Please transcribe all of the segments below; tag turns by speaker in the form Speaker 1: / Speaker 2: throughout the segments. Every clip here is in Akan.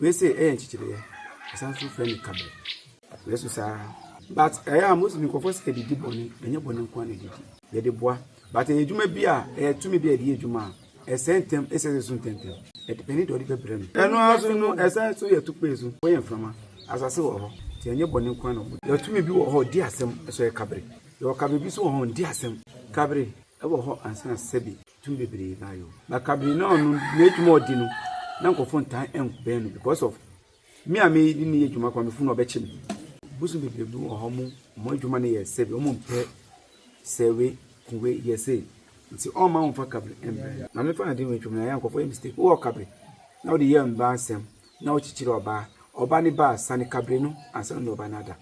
Speaker 1: Wei se ɛyɛ nkyekyereyɛ. Ɛsan nso frɛ no kabɛ. Wei so saa. But ɛyɛ a Muslim nkurɔfoɔ sɛ ɛdidi bɔne, ɛnyɛ bɔne nko ara na ɛdidi. Yɛde boa. But ɛyɛ adwuma bi a, ɛyɛ tumi bi a yɛde yɛ adwuma a, ɛsɛe ntɛm, ɛsɛ sɛ ɛso ntɛmntɛm. Ɛdepɛne deɛ ɔde bɛbrɛ no. Ɛno ara so no, ɛsan nso yɛ tukpee so. Wɔyɛ mframa. Asase wɔ hɔ. Nti ɛnyɛ bɔne nko ara na wɔbɔ. Yɛwɔ tumi bi wɔ hɔ a, ɔdi asɛm. Ɛso ɛyɛ kabere. Yɛwɔ kabere bi nso wɔ hɔ a, ɔndi asɛm. Kabere wɔ hɔ ansa na sɛbi. Tum bebree baa no na Cabernaum no n'edwuma a ɔdzi no na nkorɔfo nntaa nnbɛn no because of me a me nye no yɛ edwuma koraa mefo no ɔbɛkye me. Bosoom bebree bi wɔ hɔ ɔmo ɔmo edwuma no yɛ sɛwe ɔmo mmpɛ sɛ we ku we yɛ sei ntsi ɔmma wɔmmfa Cabre mmbra no. Maame fa adwen wɔ etwa mu na yɛ a nkorɔfo yɛ mistake ewɔ Cabre na wɔdze yɛ mbaa nsɛm na wɔkyekyer ɔbaa ɔbaa ne baa sane Cabre no ansa na ɔnye ɔbaa no ada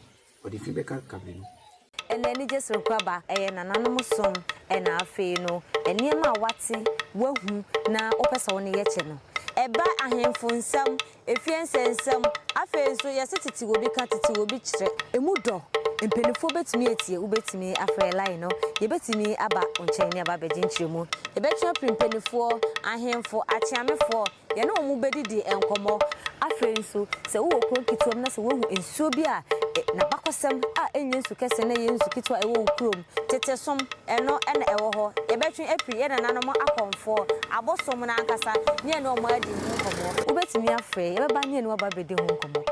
Speaker 1: Ɔde fi bɛka kabe no. Ɛnna anigye soronko
Speaker 2: aba. Ɛyɛ nananom som na afei no, nneɛma a woate, woahu, na wopɛ sɛ wo ne yɛ kyɛ no. Ɛba ahemfo nsɛm, efie nsɛnsɛm, afei nso yɛse titiriw obi ka, titiriw obi kyerɛ. Emu dɔ. Mpanimfoɔ bɛtumi atie, wobɛtumi afrɛ line no, yɛbɛtumi aba wo nkyɛn ne aba abɛgye nkyerɛmu. Yɛbɛtwe afiri mpanimfoɔ, ahemfo, akyeamefoɔ, Yɛne wɔn bɛdidi nkɔmmɔ. Afei nso, sɛ wowɔ kuro nketewa mu na sɛ woahu nsuo bi a n'abakɔsɛm a ɛnyɛ nsu kɛseɛ na ɛyɛ nsu ketewa a ɛwɔ wo kurom, tete som, ɛno na ɛwɔ hɔ. Yɛbɛtwe afiri yɛn nananom akɔmfoɔ, abosom no ankasa, ne yɛne wɔn adi ho nkɔmmɔ. Wobɛtumi afrɛ, yɛbɛba ne yɛne wo aba abɛdi ho nkɔmmɔ.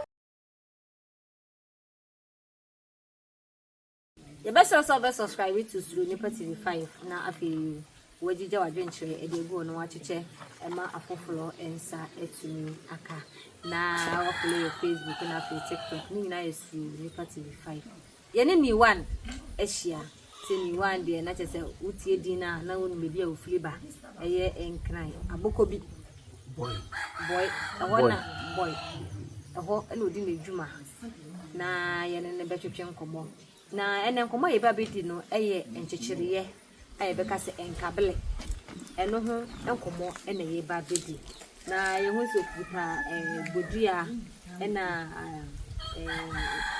Speaker 2: Yɛbɛsrɛ wo sɛ wobɛ subscribe to Suro Nnipa TV 5 na afei wɔagyigya w'adwenkyerɛ ɛde agu hɔ na wɔakyekyɛ ɛma afoforɔ nsa atumi aka na wɔfollow yɛ Facebook na afei TikTok ne nyinaa yɛ Suro Nnipa TV 5 yɛne Niwan ahyia sɛ Niwan deɛ na kyɛ sɛ wotie din no a na wonim baabi a wofiri ba ɛyɛ nkran abokɔ bi Bɔe. Bɔe. Ɛhɔ Bɔe. na Bɔe. Ɛhɔ na ɔdi n'adwuma na yɛne no bɛtwetwe nkɔmmɔ. Na ɛnɛ nkɔmmɔ a yɛba bɛdi no yɛ nkyekyereeɛ a yɛbɛka sɛ nkabele. Ɛno ho nkɔmmɔ na yɛba bɛdi. Na yɛhu sɛ ɔkuta eh, bodua na eh,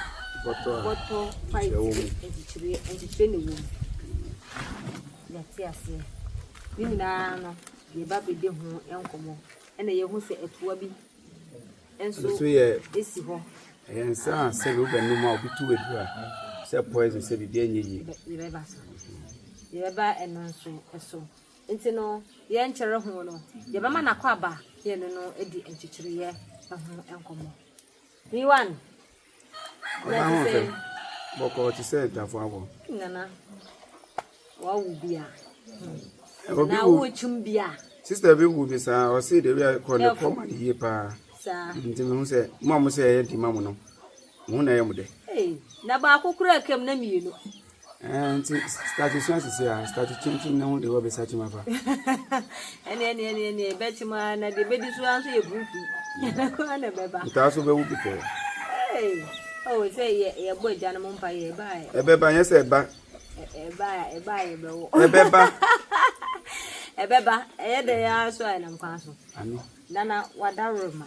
Speaker 2: Bɔtɔ a bɔtɔ pipe nkyerɛ wɔ mu. nkyekyereeɛ nkyekyereeɛ na ɛwɔ mu. Yɛte aseɛ. Ne nyinaa no, Yɛba abedi ho nkɔmmɔ na yɛahu sɛ ɛtoa bi nso si hɔ. Ɛyɛ nsa a sɛ wobɛnom a obi tu aduru a sɛ poison sɛ biribi anyɛ yie. Yɛbɛba so. Yɛbɛba ɛno nso so. Nti no, yɛnkyerɛ ho no, yɛbɛma n'akɔ aba yɛne no adi nkyekyereeɛ ho nkɔmmɔ. Yiwan. Ɔbaa ho fɛ bɔkɔɔ te sɛ atwafoɔ awɔ. Nana, wawo bi a. Obi na wo kyim bi a. Sister bi wo bi saa, ɔse de wia kɔ ne kɔ ma ne yie paa. Saa. Nti me ho sɛ, mo a mo sɛ ɛyɛ di ma mo no, mo ho na ɛyɛ mo dɛ. Hey, na baako kura kam na mmienu. Ɛɛ nti start sua sisi a start kyimkyim ne ho de wɔbɛsa kyim afa. ɛne ɛne ɛne ɛne ɛbɛkyim a na deɛ ɛbɛdi so ara nso yɛ buruku yɛda kɔ ara na ɛbɛba. ntaa so bɛwu bi pɛɛ. ee ɔwɔ oh, sɛ yɛ yɛbɔ agya no mu mpa yɛ ɛba yɛ. ɛbɛba nyɛ sɛ ɛba. ɛba ɛba yɛ bɛwɔ. ɛbɛba. ɛbɛba ɛyɛ dɛ yɛ ara so a ɛnam kwan so. nana wada rema.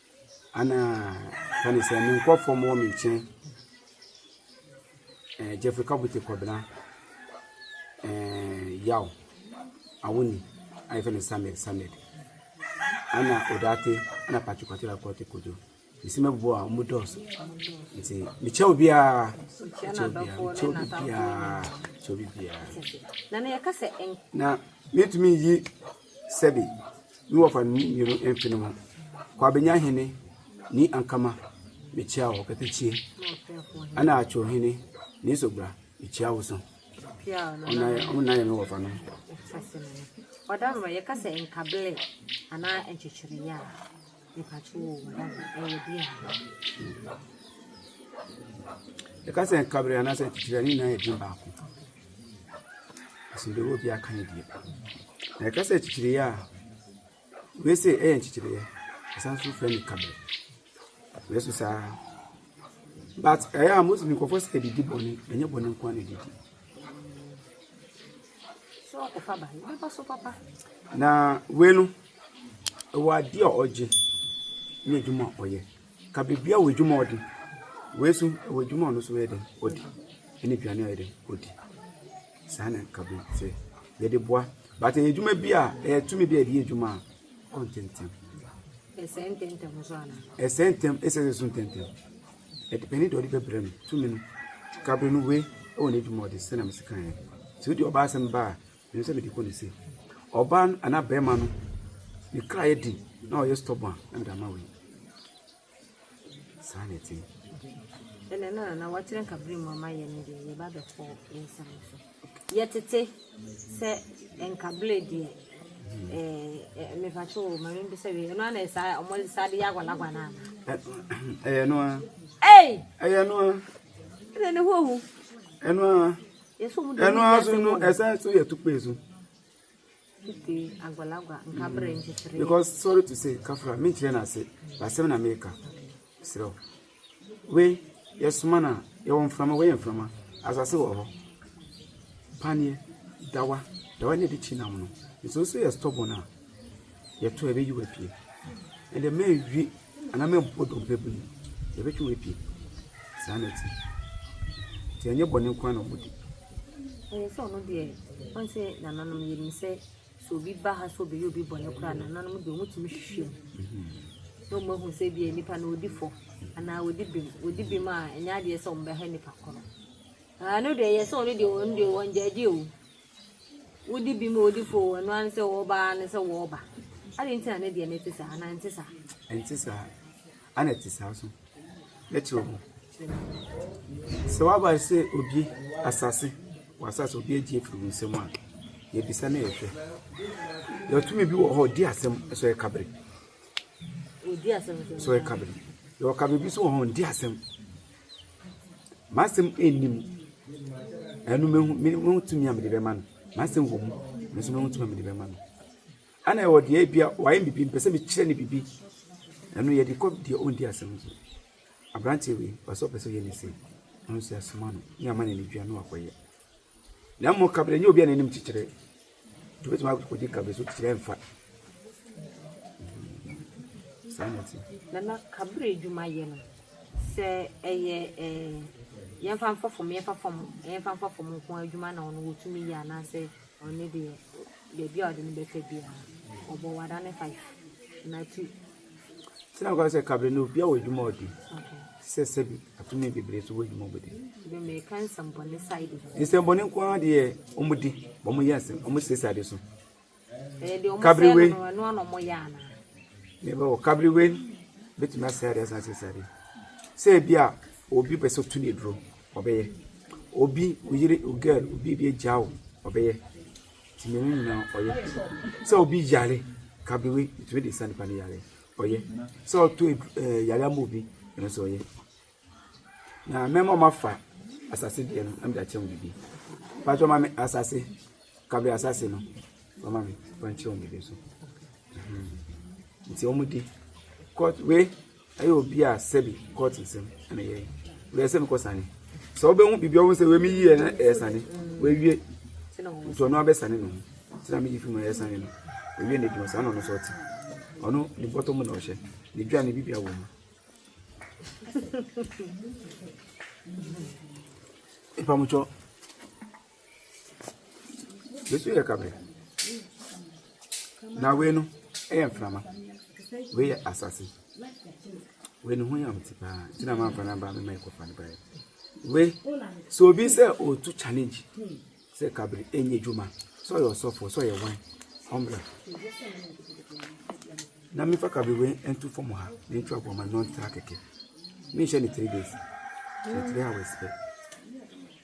Speaker 2: Ana ka ne sɛ, me nkurɔfoɔ mmɔ me nkyɛn, eh, Jeffrey Kabute Kɔbena, eh, Yaw, Awoni, a yɛfɛ no Samed Samed, ana Odate, ana Patrick Kwatela Kɔte Kojo. Mesi mɛboa a wɔn dɔɔso. Nti mekyɛ obiara, mekyɛ obiara, mekyɛ obi biara, mekyɛ obi biara. Na metumi yi Sɛbe, me wɔfa no ne mmienu mfe no ho, Kwabenya hene ne Ankama mekyia wo pɛpɛkyie, ɛna Atwo hene ne Esogbra mekyia wo so. Ɔmo nan yɛ me wɔfa no. Ɔda no yɛka sɛ nkabele anaa nkyekyereyɛ a. Yɛka sɛ nkabere anaasɛ atitire a ne nyinaa yɛ din baako. Asomdwoeɛ wɔ obiara ka ne deɛ. Na yɛka sɛ atitiriɛ a, wei se ɛyɛ nkyekyereyɛ. Ɛsan nso frɛ no nkabere. Nanso saa ara. But ɛyɛ a Muslim nkurɔfoɔ sɛ ɛdidi bɔne, ɛnyɛ bɔne nko ara na ɛdidi. Na
Speaker 1: wei no, Ewɔ ade a ɔgye ne edwuma a ɔyɛ. Ka bebia ewɔ edwuma a ɔde. Wei so ewɔ edwuma a ɔno so ɔyɛ dɛn ɔde. Ene eduane a ɔyɛ dɛn ɔde. Saa na nka be sɛ yɛde boa. But eye edwuma bi a ɛyɛ tumi bi a yɛde yɛ edwuma a ɔkɔ ntɛntɛm.
Speaker 2: Ɛsɛ ntɛntɛm nso ana? Ɛsɛ ntɛm, ɛsɛ nso
Speaker 1: ntɛntɛm. Ɛdepɛni deɛ ɔde bɛbrɛ no tumi no. Kabere no wei ɛwɔ n'adwuma ɔde sɛ na mesi kan yɛ. Nti wode ɔba asɛm ba a Ɛno sɛ mede kɔ ne se ɔbaa no anaa bɛrima no ne kra yɛ den na ɔyɛ stɔbɔ a na mede ama wei saa na ɛte ɛnɛ
Speaker 2: no na wɔkyerɛ nkabere mu ama yɛ no deɛ yɛba bɛkɔ nsɛm so yɛtete sɛ nkabere deɛ mefakyɛ o ma membi sɛ wei ɛno ana ɛsa ɔmɔde saa de yɛ agwalagwa no ana ɛyɛ no
Speaker 1: a ɛyɛ no a ɛnɛ
Speaker 2: ne ho ahu ɛno a Ɛno ara so no ɛsan
Speaker 1: so yɛ tukpe so.
Speaker 2: Because sorry to say
Speaker 1: kafra mi nkyerɛ na ase basɛm na mi ka serɛw wei yɛsoma na yɛwɔ mframa wei yɛ mframa asase wɔ hɔ paneɛ dawa dawa na ɛde kyi nam no nso nso yɛ stɔbɔ no a yɛtɔ a ɛbɛyi wo apue. Ɛnde mɛnwe anaa mɛmmɔ dompe bere mu, yɛbɛtwe wo apue. Saa na ɛte. Nti ɛnyɛ bɔne nko na wɔdi. Ɛyɛ sɛ
Speaker 2: ɔno deɛ ɔn sɛ nananom yɛnim sɛ sɛ obi ba ha sɛ ɔbɛyɛ obi bɔne koraa nananom deɛ ɔmutumi hwehwɛ mu mhm. na ɔmahu sɛ bia nipa na ɔdi fɔ anaa ɔdi bem ɔdi bem a ɛnyɛ adeɛ sɛ ɔmbɛha nipa korɔ ɛno deɛ ɛyɛ sɛ ɔno deɛ ɔno deɛ wɔngyaagye o Wode bi ma odi fɔ wɔn ano sɛ wɔreba ara ne sɛ wɔreba. Adɛn nti na ne deɛ no te saa anaa ɛnte saa? Ɛnte saa.
Speaker 1: Ana ɛte saa so? Mɛkyerɛ wo. Sɛ waba sɛ obi asase, w'asase obi agye afiri wo nsam a, yɛbisa na yɛhwɛ. Yɛtumi bi wɔ hɔ ɔdi asɛm sɛ ɔyɛ kabere.
Speaker 2: Ɔdi asɛm sɛ ɔyɛ kabere.
Speaker 1: Yɛwɔ kabere bi so wɔ hɔ ɔndi asɛm. M'asɛm nni mu. Ɛno mehu me mehu tumi a mede bɛma no. M'asɛm wɔ mu nanso mehu tumi a mede bɛma no. Ɛna ɛwɔ deɛ ebia wayɛ me biribi mepɛ sɛ mekyerɛ no biribi. Ɛno yɛde kɔ deɛ ɔndi asɛm no so. Aberanteɛ wei ɔpɛ sɛ ɔpɛ sɛ ɔyɛ ne sei. Ɛno nso yɛasoma no na yɛama no anidie a na wakɔyɛ. Na mmom kaberɛ nyɛ obi a n'anim kyekyere. Wobɛtumi akɔdi kabe so kyerɛ mfa. Saa na ɛte. Nana
Speaker 2: kabere adwuma yɛ no sɛ ɛyɛ ɛɛ yɛmfa mfa fam yɛmfa fam yɛmfa mfa fam nko adwuma na ɔno wɔtumi yɛ anaasɛ ɔne deɛ baabi a ɔde no bɛfa biara ɔbɔ wada ne five na tu Sɛ ɔka
Speaker 1: sɛ kabe no obi a wɔ adwuma ɔdi sɛ sɛbi atumi bebree so wɔ adwuma ɔbɛdi.
Speaker 2: Nsɛmbɔne nko ara
Speaker 1: deɛ wɔn di wɔn yɛ asɛm wɔn sɛ sɛ ade so.
Speaker 2: Kabiriwe yɛbɛ wɔ
Speaker 1: kabiriwe betumi asɛ adeɛ asan sɛ sɛ adeɛ sɛ ebi a obi pɛ sɛ otu ne duro ɔbɛyɛ obi oyere ogɛl obi ebi agya o ɔbɛyɛ. tumi no nyinaa ɔyɛ sɛ obi yare kabewe tumi de sa nipa no yare ɔyɛ sɛ ɔto ɛɛ yare ama obi ɛno nso ɔyɛ na mɛma ɔma fa asase deɛ no ɛmu de akyerɛ wɔn bibi patro ma mi asase kabewe asase no ɔma mi wɔn kyerɛ wɔn bibi nso nti wɔn di kɔt wei. Ɛyɛ obi a sɛbi court nsɛm na ɛyɛ yi wei ɛsɛ mekɔ sane sɛ wobɛhu biribi ɔwo sɛ wei meyi yɛ na ɛyɛ sane wawie nti ɔno abɛsane no nti na meyi fi mu ɛyɛ sane no wawie na adwuma saa na ɔno sɛ ɔte ɔno ne bɔtɔ mu na ɔhyɛ ne dwa ne bibia wɔ mu mpamokyɛ Wei nso yɛ kabere. Na wei no yɛ mframa. Wei yɛ asase. Wei ne ho yam nti paa nti na mamfa no aba mema ɛkɔfa no baeɛ. Wei sɛ obi sɛ ɔretu challenge sɛ kabere ɛnyɛ adwuma sɛ ɔyɛ ɔsɔfoɔ sɛ ɔyɛ wan ɔmmra na mefa kabere wei nto fam ha na ntwa bɔ ma no ntra kɛkɛ menhyɛ ne three days ne three hours pɛ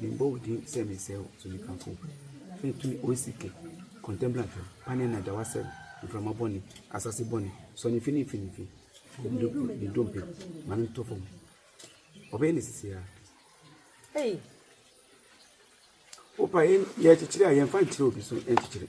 Speaker 1: Mebɔ wo din sɛ mesɛe wo so mekamfo wo Fɛ tumi o CK, contemplant hwɛ Pane na gya w'asɛm Mframa bɔne, asase bɔne Sɔ ne mfinimfini fi Ne dompe ma no ntɔ fam Ɔbɛyɛ no sisi a Hey! Wopa yɛn yɛkyekyere a Yɛmfa nkyerɛ obi so nkyekyere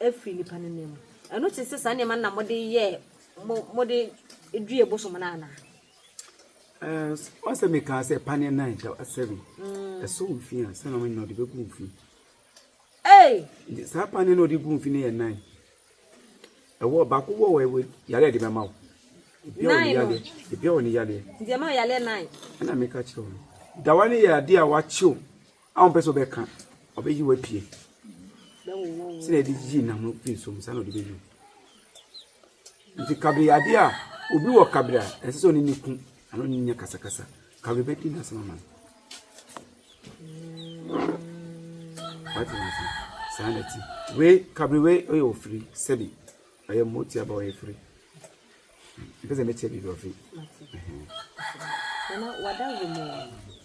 Speaker 2: afiri nnipa no nan mu. Ɛno te sɛ saa nneɛma no na mode yɛɛ mo mode duee bosom no anaa? ɔsɛ
Speaker 1: mekaa sɛ paneɛ nan da asɛre mm. ɛsɔ wo fi a sɛ na mene na ɔde bɛgu wo fi saa paneɛ na ɔde gu wo fi no yɛ nan ɛwɔ baako wɔ wɔ yare a de bɛma wo ebia wɔ ne yaleɛ
Speaker 2: ɛna meka kyerɛ wo
Speaker 1: dawa no yɛ adeɛ a wakyew A ɔmpɛ sɛ ɔbɛka, ɔbɛyi wo apue. Sɛnea ɛde yi nam no fi nsuo mu, saa na ɔde bɛyi wo. Nti kabere adeɛ a obi wɔ kabere a ɛsɛ sɛ ɔne ne ku ano ne nyɛ kasakasa. Kabere bɛdi n'asɛm ama no. Wate n'ase. Saa na ti. Wei kabere wei ɔyɛ ofiri sɛbi. Ɔyɛ mmotia ba ɔyɛ firi. Mepɛ sɛ mete biribi ɔfe.
Speaker 2: Nana wada wo mu.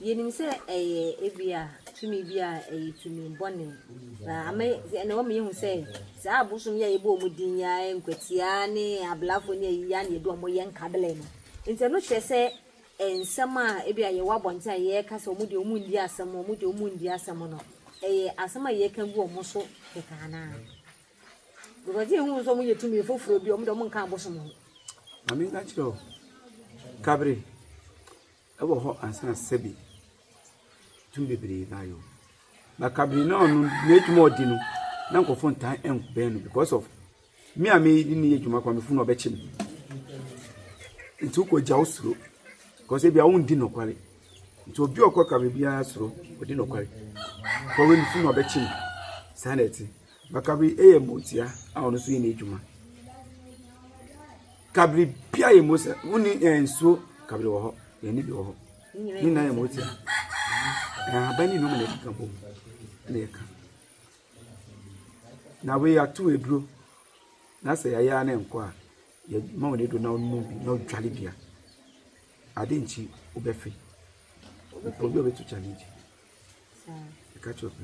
Speaker 2: Yɛnim sɛ ɛyɛ ebi a tumi bi a ɛyɛ tumi bɔne. Na ama ɛna wɔn yɛhu sɛ saa abosom yɛ yɛbɔ wɔn din ya nkwatia ne ablafo ne ayi ya ne yɛde wɔn yɛ nkabele no. Nti ɛno kyerɛ sɛ nsɛm a ebi a yɛwɔ abɔnten a yɛreka sɛ wɔn deɛ wɔn ndi asɛm wɔn deɛ wɔn ndi asɛm no ɛyɛ asɛm a yɛreka gu wɔn so kɛkɛ anaa. Because yɛhu wɔn sɛ wɔyɛ tumi foforɔ bi a wɔde wɔn nka abosom ho. Maame nka
Speaker 1: kyerɛ wo, kabere ɛwɔ hɔ ansa na sɛbi tumi bebree ba yɛ o. Ba kabere na ɔno n'adwuma ɔdi no na nkurɔfoɔ ntaa ɛnkɔbɛn no because of me a meyi ne yɛ adwuma kɔ mefo na ɔbɛkye me. Nti wokɔ gya wo suro because ebi a wondi nɔkware. Nti obi ɔkɔ kabere biara soro ɔdi nɔkware. Kɔwe mefo na ɔbɛkye me saa na ɛte. Bakabri yɛ motia a ɔno nso yɛ n'adwuma. Kabri bia yɛ mo sɛ wonni yɛn nsuo kabri wɔ hɔ yɛn ne bi wɔ hɔ ne nyinaa yɛ motia ahaban ne nneɛma na ɛkeka bom na ɛka na wei ato aduro na sɛ yɛayɛ ne nkɔ a yɛma wɔn aduro na wɔnom bi na ɔdwale bia ade nkyi wobɛfe obi a ɔbɛtu challenge ɛka kyerɛ ɔpɛ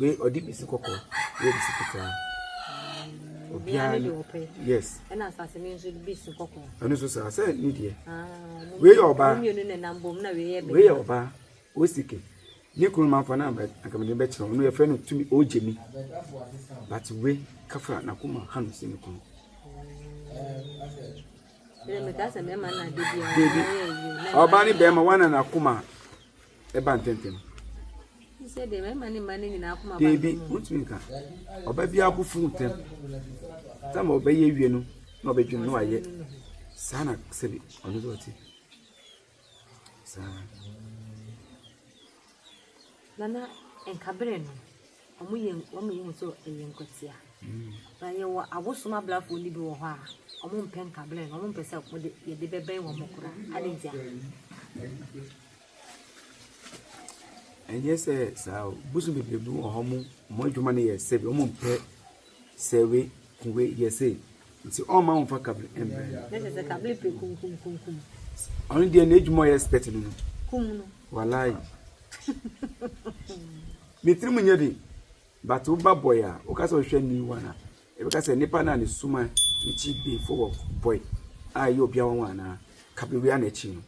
Speaker 1: Wei ɔde bi si kɔkɔɔ, wei de si fitaa. Mm, Obiara ne ɔpɛ. Yes. Ɛna asase mi nso
Speaker 2: bi si kɔkɔɔ. Ɛno nso saa sɛ ne
Speaker 1: deɛ. Ah, wei yɛ ɔbaa. Mmienu na nam bom na wei yɛ bɛrima. Wei yɛ ɔbaa. Osike. Ne kunu ma fa na akamani bɛ kyerɛ. Ɔno yɛ fɛ no tumi ogye mi. But we kafa na kuma ha no si ne kunu. Ɔbaa ne bɛrima wana na kuma. ɛba ntɛmntɛm. Sɛ
Speaker 2: deɛ mmarima ne mmaa no nyinaa akoma ba Deebi, ntɛm. wontumi nka.
Speaker 1: Ɔba biara bo fuw ntɛm. Tam a ɔbɛyɛ awie no, na ɔbɛdwene na wayɛ. Saa na sɛbi ɔno nso ɔte. Saa. Nana,
Speaker 2: nka bere no, Ɔmo yɛ ɔmo yɛ hu sɛ ɛyɛ nkwatia. Na yɛwɔ abosom abrafoɔ no bi wɔ hɔ a, ɔmo mpɛ nkabrɛ no, ɔmo mpɛ sɛ wɔde yɛde bɛbɛn wɔn koraa. Ade ntia?
Speaker 1: Ɛnyɛ sɛ saa o, bosom bebree bi wɔ hɔ, ɔmo adwuma no yɛ sɛ bi, ɔmo mpɛ. Sɛ we ku we yɛ se nti ɔmma wo nfa kable mbrɛ no. Ne sɛ sɛ kable pe
Speaker 2: kum kum kum
Speaker 1: kum. Ɔno
Speaker 2: deɛ n'adwuma
Speaker 1: ɔyɛ expert no no. Kum
Speaker 2: no.
Speaker 1: Walai. ne tirim nyɛ den but wo ba boy a woka sɛ ɔhwɛ new one a ɛbɛka sɛ nipa no a ne suma ne kyi befo wɔ boy a ɛyɛ obia wɔn anaa kable wia na ɛkyi no.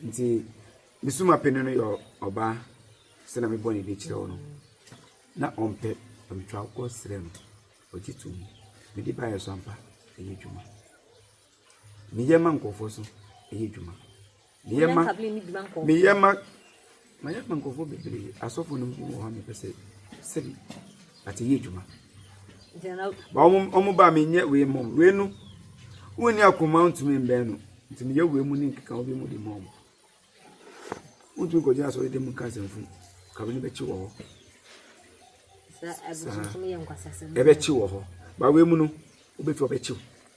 Speaker 1: Ntsi me sumapanyin no yɛ ɔbaa, sɛ na me bɔ n'edin kyerɛ wo no, na ɔmmpɛ, na mutwa kɔ serɛ no, ogye to mu. Medze baayɛ so ampa, ɔyɛ edwuma. Meyɛ ma nkorɔfoɔ so, ɔyɛ edwuma. Meyɛ ma, meyɛ ma. Mayɛ ama nkurɔfoɔ bebree. Asɔfoɔ no mpo wɔ hɔ a mepɛ sɛ sɛbi ate yɛ adwuma. Ba wɔn wɔn ba menyɛ wei mɔ wei no wonni akoma ntumi mbɛn no nti meyɛ wei mu ne nkeka obi mu de mɔ wɔn. Wontumi nkɔgyina asɔre dɛm nka asɛmfu ka wei no bɛkye wɔ hɔ. Saa ɛbɛkye wɔ hɔ. Ba wei mu no wobɛtumi ɔbɛkyew.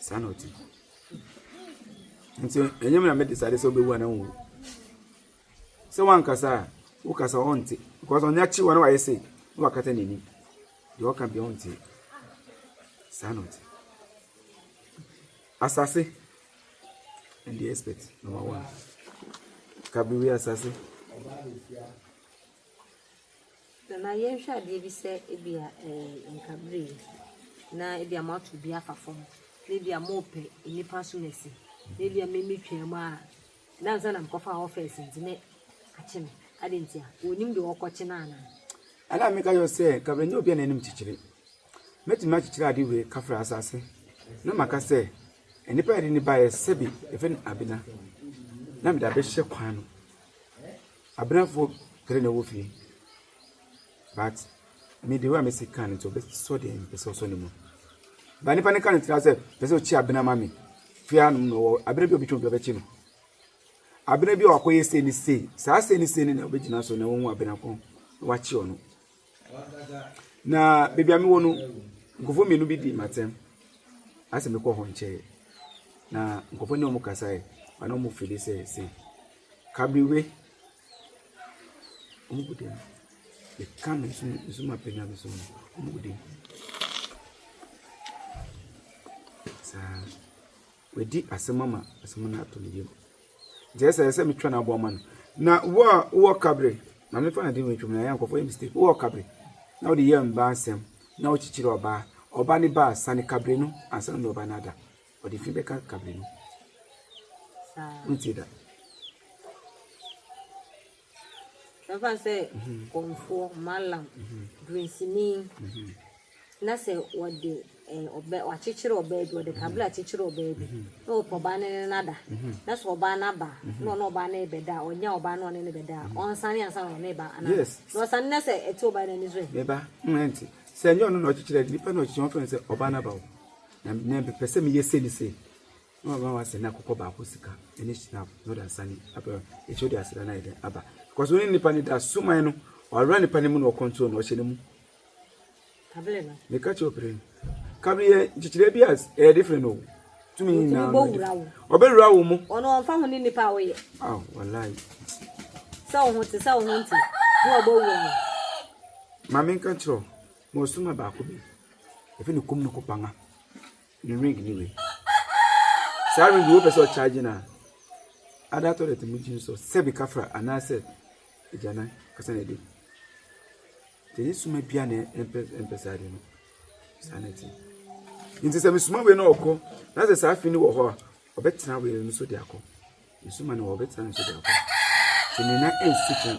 Speaker 1: Saa na ɔte. Nti ɛnyɛ me na me decide sɛ ɔbɛwu anaa ɔnwu. Sɛ wankasa a, wokasa ɔnte. Because ɔnyɛ akyi wa na wayɛ sei na wakata n'anim. Deɛ ɔka bia ɔnte. Saa na ɔte. Asase and the expert number one. Kabiri asase.
Speaker 2: Nana yɛnhwɛ adeɛ bi sɛ ebia ɛɛ nkabre yi na ebia moato bi afa fam na ebia mopɛ nnipa so na asi na ebia mimi twaa mu a na ansa na mekɔfa hɔ fɛs nti na akye me ade nti a wɔnim deɛ wɔkɔkye no anaa ɛna meka yɛ
Speaker 1: sɛ nkabre nyɛ obi a n'anim kyekyere mɛtumi akyekyere ade wei kafra asase na maka sɛ nnipa yɛde ne baeɛ sɛbi ɛfɛ no abena na mede abɛhyɛ kwan no Aberanfoɔ three na ɛwɔ fie but me the way a mesi kan no nti ɔbɛsɔ deɛ mepɛ sɛ ɔsɔ ne mu but nipa no ka ne tira sɛ pɛ sɛ ɔkyi abena ma me fie anom na ɔwɔ abena bi a ɔbɛtwa obi ɔbɛkyi no abena bi a ɔakɔyɛ sei ne sei saa sei ne sei ne na ɔbɛgyina so na wɔhu abena ko na wakyi ɔno na baabi a mewɔ no nkurɔfoɔ mmienu bi di m'atɛm asɛ mekɔ hɔ nkyɛe na nkurɔfoɔ ne wɔn kasae ana wɔn fili sɛ sɛ kabriwe wɔn gu dɛm yɛka no nso nso ma pɛnya no so wɔn gu dɛm saa. Wadi asɛm ama asɛm no atɔ ne yam. Nti ɛsɛ sɛ metwa no aboa ma no. Na wo a wowɔ kabere, na mefa no de wɔ ntwam na yɛ nkɔfo yɛ mistake. Wowɔ kabere na wode yɛ mba asɛm na wokyekyere ɔbaa. Ɔba ne ba a, sane kabere no ansa na ɔba no ada. Ɔde fi bɛka kabere no. Wontie da.
Speaker 2: Yɛmfa no sɛ kɔmfoɔ, mallam, dunsini na sɛ wɔde eh, ɔbɛ, wakyekyere ɔbaa bi, wɔde kabla akyekyere ɔbaa bi na wɔpɛ ɔbaa no ne no ada. Na sɛ ɔbaa no aba na ɔne ɔbaa no rebɛda a, ɔnya ɔbaa no ɔne no bɛda a, ɔnsane ansa na ɔne ba anaa? Yes. Na ɔsane na sɛ ɛte ɔbaa no ani so ɛ. meba mm, ɛnte
Speaker 1: sɛ ɛnyɛ ɔno na ɔkyekyerɛ de nipa na ɔkyekyerɛ wɔfrɛ no sɛ ɔbaa no aba o na mepɛ sɛ meyɛ sei ne sei Ɔma ma w'asɛ na kɔkɔ baako sika ɛne snap na ɔde asane abɛ ɛkyɛ ɔde asra no ayɛ dɛn aba because ɔne nipa no da suman no ɔawura nipa no mu na ɔkɔntro no ɔhyɛ no mu
Speaker 2: meka kyɛ ɔpere no
Speaker 1: kabere yɛ nkyekyerɛ bi a ɛyɛ different o tumi nyinaa ɔbɛwura wo mu ɔno ɔmfa ho ne nipa a
Speaker 2: woyɛ aw wallahi sɛ wo ho te sɛ wo ho nte na ɔbɛwura wo
Speaker 1: ma menka kyerɛ ma ɔsoma baako bi ɛfɛ ne kom no kɔpanga Ne ring ne wei. Saa ring wo pɛ sɛ ɔcharge no a, ada toilet mu gyim so sɛ bi kafra anaasɛ agyanan kasa na ɛdam. Nti ne suma bia na ɛmpɛ saa de no. Saa na ɛte. Nti sɛ mesuma wei na ɔkɔ na sɛ saa fi no wɔ hɔ a, ɔbɛtena wei no so de akɔ. Mesuma no wɔ ɔbɛtena no so de akɔ. Sɛ mena ɛnsi kan.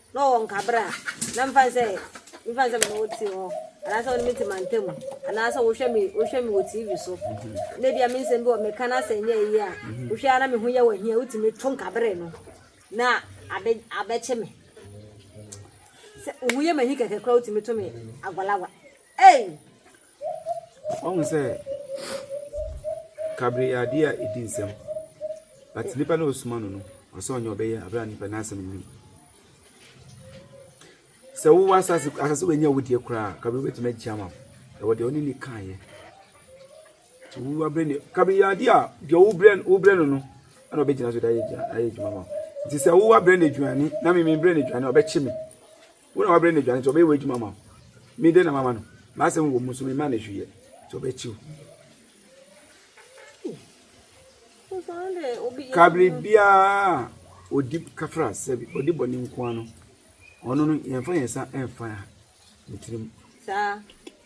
Speaker 2: na ɔwɔ nkabere a, na mfa no sɛ mfa no sɛ me ne wo te hɔ anaasɛ wo ne me te mantam anaasɛ wohwɛ me wohwɛ me wɔ TV so na ebi a me nsɛm bi wɔ meka no asɛ nyɛ yie a wohwɛ ara me ho yɛ wɔ hia wotumi to nkabere no na abɛ abɛkye me sɛ ohun yɛ m'ahi kɛkɛ koraa wotumi to me agwalagwa ei
Speaker 1: Wahu sɛ kabere yɛ adeɛ a ɛdi nsɛm but nipa na ɔsoma no no ɔsɛ ɔnyɛ ɔbɛyɛ aberɛ a nipa n'asɛm nim sɛ wowɔ asase asase wɔ nyɛ wo deɛ koraa kabere wobɛtumi agyia ma ɛwɔ deɛ ɔne ne kaeɛ nti wo aberɛ ne kabere yɛ adeɛ a deɛ wobrɛ wobrɛ no no ɛna ɔbɛgyina so de ayɛ adwuma ma nti sɛ wowɔ aberɛ ne aduane na memebrɛ ne aduane ɔbɛkye me Wo na woabrɛ no aduane nti ɔbɛyɛ w'adwuma ama wo. Me dɛn na mama no? M'asɛm wom nso memmaa no hwee yɛ nti ɔbɛkyi wo. Ka biribiara a ɔdi kafra sɛ ɔdi bɔne nko ara no, ɔno no yɛmfa yɛn nsa mfa ne tirim.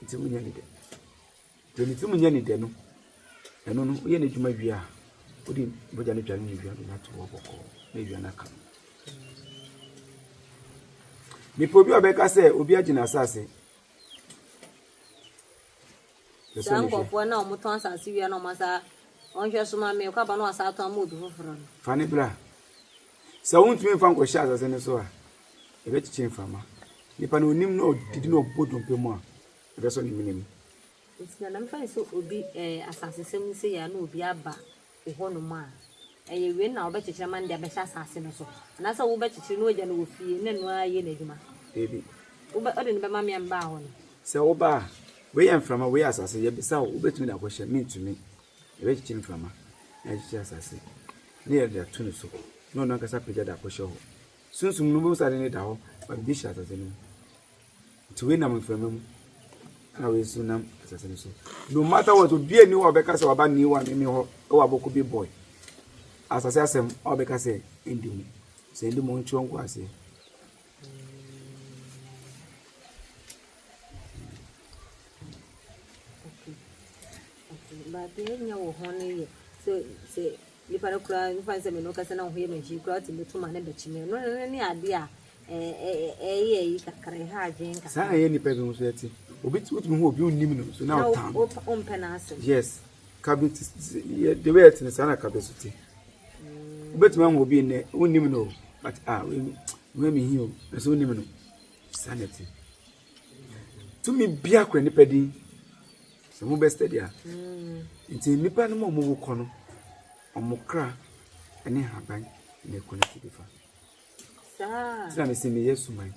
Speaker 2: Nti wonyɛ ne dɛ.
Speaker 1: Deɛ ne tirim nyɛ ne dɛ no, ɛno no, woyɛ n'adwuma wie a, wode mogya no dwane awia no nato hɔ bɔkɔɔ na awia no aka no. Mepɛ obi a ɔbɛka sɛ obi agye n'asase.
Speaker 2: saa nkɔfoɔ na wɔtɔn asase wia na wɔn asa wɔnhwɛ so ma me ɔkɔ aba na wasa atɔn ama obi foforɔ no. fa ne bra
Speaker 1: sɛ wontumi mfa nkɔhyɛ asase no so a ɛbɛkyekye mframa nipa na onim na ɔdidi na ɔbɔ dompe mu a Ɛsɛ sɛ ɔne mene mu. Nti na na
Speaker 2: mefa no sɛ obi ɛɛ asasesɛm no sei a na obi aba wo hɔ nom a ɛyɛ wei na wobɛkyekyere ama no de abɛhyɛ asase no so anaasɛ wobɛkyekyere na wagya no wɔ fie na ɛno ara ayɛ n'adwuma? Dabi.
Speaker 1: Wobɛ wode no
Speaker 2: bɛma me a mebaa hɔ no? Sɛ woba a,
Speaker 1: wei yɛ mframa, wei yɛ asase, yɛbisa wo, wobɛtumi de akɔhyɛ? Mentumi. Yɛbɛkyekyere mframa na yɛakyekyere asase na yɛde ato no so na ɔno ankasa apagya de akɔhyɛ hɔ. Sunsum no, wobɛhu sɛ ade no da hɔ, ma biribi hyɛ asase no mu. Nti wei nam mframa mu, ɛna wei nso nam asase no so. No matter what, obiara ni hɔ a ɔbɛka sɛ waba ne wa ne me hɔ wɔ abɔko bi boy. Asase asɛm a ɔbɛka sɛ ɛndi mu. Sɛ ɛndi mu nkyerɛ nko aseɛ.
Speaker 2: But ɛnyɛ wo ho no yɛ sɛ sɛ Nnipa no koraa mfa no sɛ me ne wo kasa na wo ho yɛ me hye koraa, wotumi to ma no bɛkye me. Ɛno no ne adeɛ a ɛyɛ ayi kakra, ɛha adwene kakra. Saa ɛyɛ nnipa bi nso ɛte.
Speaker 1: Obi wotumi hu obi wonnim no nso na ɔtaa no. Na wompɛ n'asɛm.
Speaker 2: Yes. Kabe
Speaker 1: te the way ɛte no saa na kabe so te. Wobɛtumi ahu obi nnɛ wonnim no but ah wei me ho yɛ me hi o ɛsɛ wonnim no. Saa na ɛte. Tumi biara kura nipa din. Sɛ mo bɛ stɛdi a. Nti nipa no mu a ɔmo wu kɔ no, ɔmo kra ɛne haban na ɛkɔ n'akyi de fa. Ti na mesi meyɛ suman.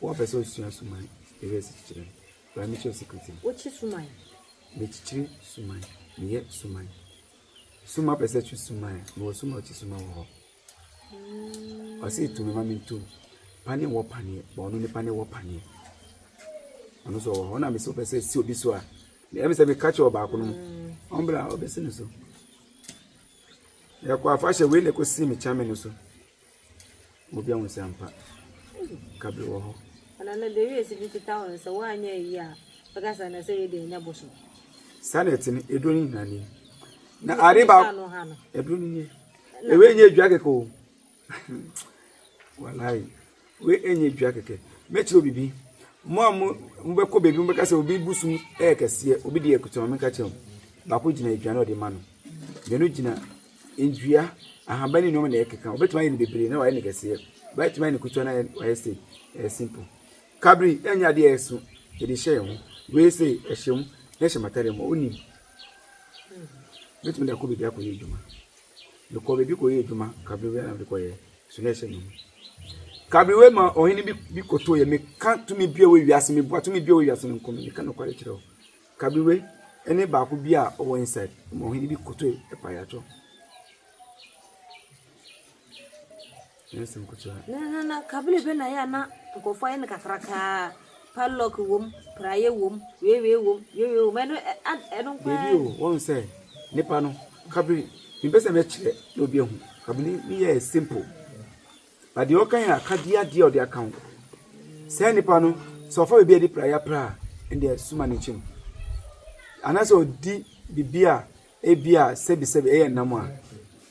Speaker 1: Wɔn pɛ sɛ osua suman, ɛyɛ ɛsi kyikyiri. Baa mi kyerɛ sikiriti. Wokyi suman.
Speaker 2: Mekyikyiri
Speaker 1: suman, meyɛ suman. Suma pɛ sɛ twi suman, mewɔ suma okyi suman wɔ hɔ. Ɔse to me ma me nto pane wɔ paneɛ ba ɔno ne pane wɔ paneɛ ɔno so ɔwɔ hɔ na mesɛ wopɛ sɛ si obi so a ɛmi sɛ meka kyerɛ ɔbaako no ɔmbra ɔbɛsi no so yɛkɔ afahyɛ wei na ɛkɔsi me kyame no so obi ahu sɛ ampa kabre wɔ hɔ ɛna no de wiase
Speaker 2: bi kita wɔn sɛ woanyɛ ayi a bɛka sɛ na sɛ wei deɛ ɛnyɛ bosom saa na ɛte no
Speaker 1: ɛduro no nyina nie na ade ba ɛduro no nie Na wei nyɛ dua kɛkɛ o walayi wei nyɛ dua kɛkɛ mɛkyerɛ obi bi mo a mo bɛkɔ baabi mo bɛka sɛ obi bu sum ɛyɛ kɛseɛ obi deɛ ɛkuta wɔn mɛka kyerɛ mo baako gyina aduane a ɔde ma no mmienu gyina ndua ahaban ne nneɛma na ɛkeka obetumi ayɛ no bebree na wayɛ no kɛseɛ obetumi ayɛ no kuta na wayɛ sɛ ɛyɛ simple kabiri ɛnyɛ adeɛ ɛso yɛde hyɛ yɛn ho wei sɛ ɛhyɛ mu na ɛhyɛ matare mu onim Mɛtumi de akɔ baabi akɔyɛ adwuma. Mekɔɔ baabi kɔyɛɛ adwuma, kaberewa na mede kɔeɛ, so na ɛsɛ me mu. Kaberewa ma ɔhene bi bi kɔtooɛ, meka tumi bi a ɛwɔ wiase, meboa tumi bi a ɛwɔ wiase no nko, meka nokware kyerɛ wo. Kaberewa ne baako bi a ɔwɔ inside ma ɔhene bi kɔtooɛ, ɛpaeɛ atɔ. Na ka bere
Speaker 2: bɛ na yɛ a na nkurɔfo ayɛ no kakrakaa, padlock wom, praeɛ wom, weiwei wom, weiwei wom, ɛno ɛno nko ara. Baabi o, wɔn sɛ
Speaker 1: nipa no kabiri mepɛ sɛ mɛkyerɛ na obi ahu kabiri ne yɛ simple ba deɛ ɔka yɛ akadeɛ adeɛ ɔde aka ho sɛ nipa no sɛ ɔfa baabi a ɛde praeɛ pra a ɛdeɛ suma ne nkyɛn anaasɛ ɔdi biribi a ebi a sɛbisɛbi ɛyɛ nam a.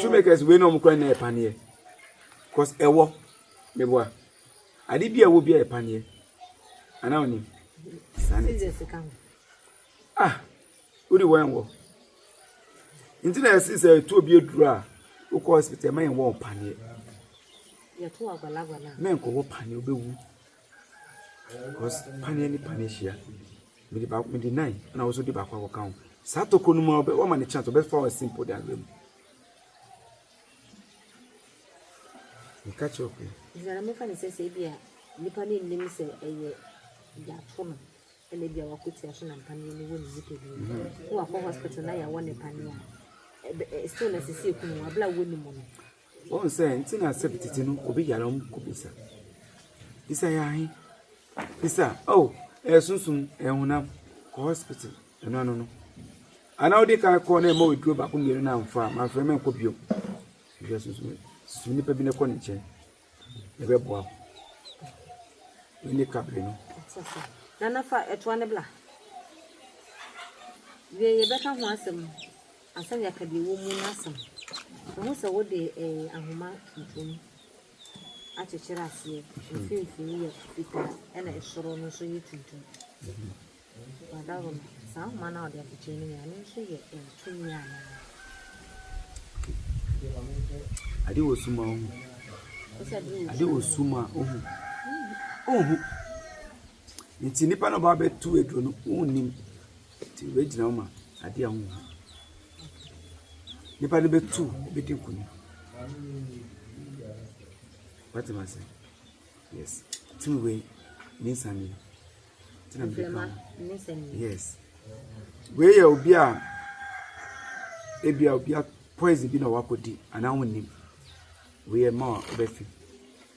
Speaker 1: shoemakers wei na wɔn kura na yɛ paneɛ cause ɛwɔ meboa ade bi a ɛwɔ bi a yɛ paneɛ ana wɔn nim saa na ɛte ah wodi wɔn ɛwɔ nti na yɛsi sɛ etu obi aduru a wokɔ hospital ɛma yɛn wɔ paneɛ
Speaker 2: mɛnkɔ wɔ paneɛ
Speaker 1: obewu. cause paneɛ ne paneɛ hyia mede baako mede nine ɛna wɔso de baako akɔka ho saa tokuro no mu a wɔma ne chance wɔbɛfa wɔn simple de abrɛ mu meka kyerɛ ɔpɛ ɛsɛ na mofa ne sɛ
Speaker 2: sɛ ebi a nipa no nnim sɛ ɛyɛ yɛato no ɛna ebi a wakɔtua so na mpaneɛ no wɔ ne nipa bi mu na wakɔ hospital na yɛawɔ ne paneɛ a still na sisi ekunu abla wɔ ne mu no Wɔn sɛ nti
Speaker 1: na sɛ tete no obi yare a wɔn kɔ bisa. Bisa yɛ ahe? Bisa oh ɛyɛ sunsun ɛyɛ honam kɔ hospital ɛno ano no. Ana wodi kan kɔ na ɛma oduro baako mmienu na nfa a manfrɛ mɛ nkɔ bio. Bisa sunsun yɛ su nipa bi na kɔ ne nkyɛn ɛbɛ boa wo. Ɛne kabiri no. Nana
Speaker 2: fa ɛtoa ne bla. Wie yɛ bɛka ho asɛm. Ansa na yɛaka deɛ ɛwɔ mu no asɛm, fa ho sɛ wode ahoma tuntum akyekyere aseɛ, mfimfini yɛ fitaa ɛna ɛsoro no nso yɛ tuntum. Wadaro no, saa ahoma no a ɔde akyekyere no nyinaa, ɛno nso yɛ tumi anaa?
Speaker 1: Ade wɔ sum a ohu. Ade wɔ sum a ohu. Ohu. Nti nipa no ba bɛtu aduro no, wonnim. Enti wobɛgyina hɔ ma adeɛ a wonhu. Nipa no bɛtu bɛdi nkonim. Wate ma sɛ? Yes. Tumi wei ne nsane yi. Tena mede ka ho. Yes. Wei yɛ obi a ebi a obi a poison bi na wakɔdi anaa wonnim. Wei yɛ ma a wobɛfi.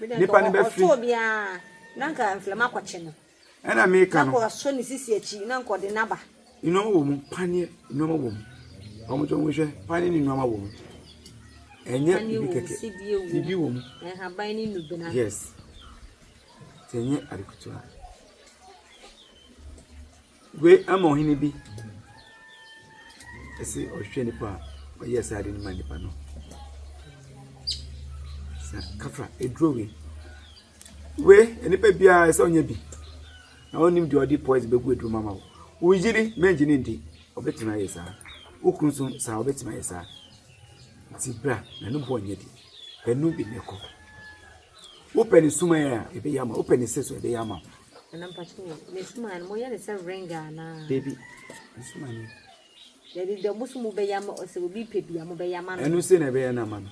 Speaker 1: Nnipa no bɛfiri. Ɔtɔɔ biara,
Speaker 2: na anka mframa akɔkye no. Ɛna meka no. Na
Speaker 1: wasɔ ne sisi akyi,
Speaker 2: na anka ɔde no aba. Nneɛma wɔ mu,
Speaker 1: paneɛ nneɛma wɔ mu. Wɔn nso wɔn hwɛ, paneɛ ne nneɛma wɔ mu. Ɛnyɛ bibi kɛkɛ. Bibi wɔ mu. Nhaban ne nnubena.
Speaker 2: Yes.
Speaker 1: Ɛnyɛ adekotoa. Wei ama ɔhene bi ɛsɛ ɔhwɛ nipa a ɔyɛ saa ade no ma nipa no sɛ kafra eduro wei wei nipa biara ɛsɛ ɔnyɛ bi na ɔnim deɛ ɔde poison bɛgu eduro mu ama wo woyiri mɛngye ne ndi ɔbɛtumi ayɛ saa wokunu nso saa ɔbɛtumi ayɛ saa nti bra na ne bɔ ɔnyɛ di pɛ no bi na ɛkɔ. Wopɛ ne sumaeɛ a, ɛbɛyɛ ama wo. Wopɛ ne se so a, ɛbɛyɛ ama wo. Nana mpakyɛ
Speaker 2: o, ne sumaeɛ no moyɛ ne sɛ ring anaa? Dabi, ne
Speaker 1: sumaeɛ no. Dabi deɛ
Speaker 2: mo so mo bɛyɛ ama sɛ obi pɛ bi a mo bɛyɛ ama no. Ɛno se na ɛbɛyɛ no ama
Speaker 1: no.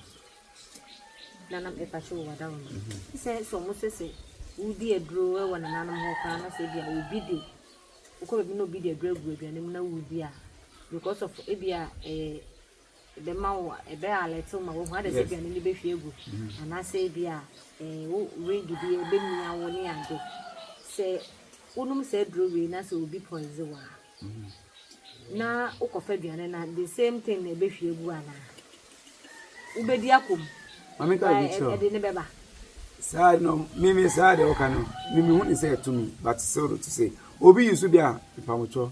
Speaker 2: Nana mpakyɛ o, wada wo no. Mm-hmm. Sɛ sɛ ɔmo sɛ sɛ wodi aduro wɔ nananom hɔ koraa na sɛ ebi a obi de wokɔ baabi na obi de aduro agu aduane mu na wodi a because of ebi a ɛyɛ eh, ɛbɛma wo ɛbɛ alert wo ma woahu ada sɛ aduane no bɛhwie agu anaasɛ ebi a eh, wo ring bi ɛbɛmia wo ne ade sɛ wonom saa aduro wei na sɛ obi poise wo a na wokɔfa aduane no the same thing na ɛbɛhwie agu anaa wobɛdi akɔm
Speaker 1: ɛde ne bɛba
Speaker 2: saa no
Speaker 1: mimi saa deɛ woka no mimi hu ne sɛ ɛtumi but still to say obi yi so bi a mpamotwɔ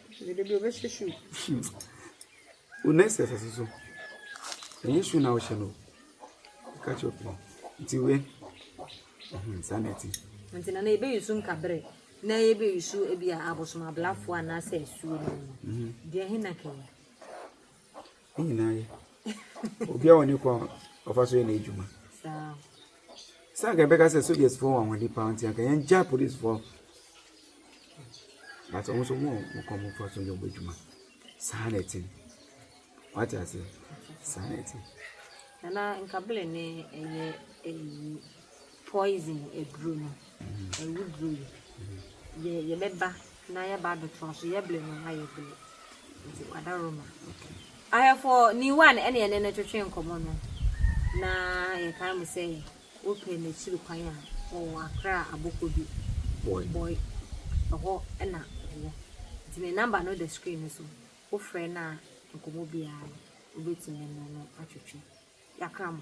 Speaker 1: Dede bi ɔbɛhyɛ
Speaker 2: shoe. Wo next
Speaker 1: exercise nso, ɛnyɛ shoe na wohyɛ no o. Ɛka kyerɛ pii. Nti wei, mhm, saa na ɛte. Nti na
Speaker 2: na ebe yusu nkabre na ebe yusu ebi a abosom ablafo anaasɛ asuo no mu. Deɛ he na kɛyi?
Speaker 1: Ne nyinaa yɛ. Obiara wɔ ne kwan a ɔfa so yɛ n'adwuma. Sɛ anka yɛbɛka sɛ sogyasfoɔ wɔ ahoɔden paa nti anka yɛngya polisfoɔ but wɔn nso wɔn wɔn kɔn fa so yɛ wɔn adwuma saa na ɛte wate ase saa na ɛte. nana
Speaker 2: nkabere ne ɛyɛ ɛyi. Poison aduro no, awuduro yi, yɛ yɛbɛba na yɛba abɛtoa so, yɛbere no na yɛbere. Nti wada Roma. Ahwɛfo ni one ɛne ɛne no twetwe nkɔmɔ no na yɛkae mu sɛ wopɛ n'akyiri kwan a ɔwɔ akra aboko bi boy ɛhɔ ɛna ɔwɔ nti ne namba no da screen no so wofrɛ no a nkɔmɔ biara no wobɛtumi ne no atwetwe yakra mo